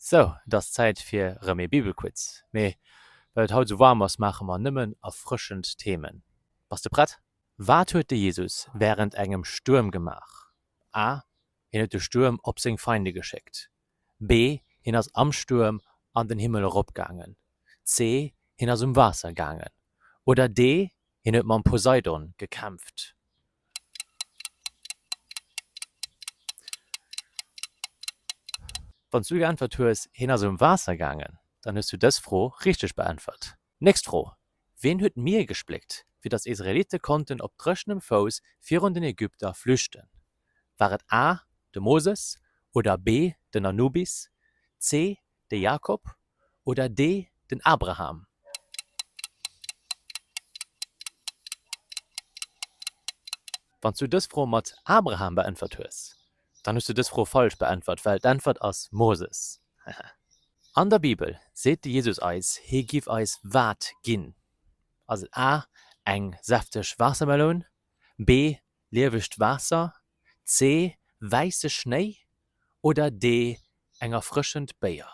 Sou, et ass Zäit fir rëm ee Bibelquiz. Mee well et haut sou waarm ass, maache mer nëmmen erfrëschend Themen. Bass de prett? Wat huet de Jesus wärend engem Stuerm gemaach? A, Hien huet de Stuerm op seng Feinde geschéckt. B, Hien ass am Stuerm an den Himmel eropgaangen. C, Hien ass um Waasser gaangen. Oder D, Hien huet mam Poseidon gekämpft. Wann s du geäntwert hues, Hien ass um Waasser gaangen, dann hues du dës Fro richteg beäntwert. Nächst Fro, Wien huet d'Mier gespléckt, fir datt Israelitte konnten op dréchenem Fouss virun den Ägypter flüchten? War et A, de Moses, oder B, den Anubis, C, De Jakob oder dee den Abraham? Wann s du dës Fro mat Abraham beäntwert hues, dann hues du dës Fro falsch beäntwert, well d'Äntwert ass Moses. Hehe. An der Bibel seet de Jesus eis, hie giff eis wat ginn? Ass et A, eng säfteg Waassermeloun, B, Liewegt Waasser, C, wäisse Schnéi oder D, eng erfrëschend Béier?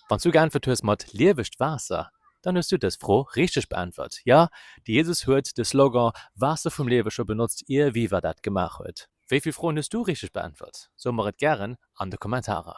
Wann s du geäntwert hues mat liewegt Waasser, dann hues du dës Fro richteg beäntwert. Jo, de Jesus huet de Slogan Waasser vum Liewe scho benotzt, ier Viva dat gemaach huet. Wéi vill Froen hues du richteg beäntwert? Soe mer et gären an de Kommentarer.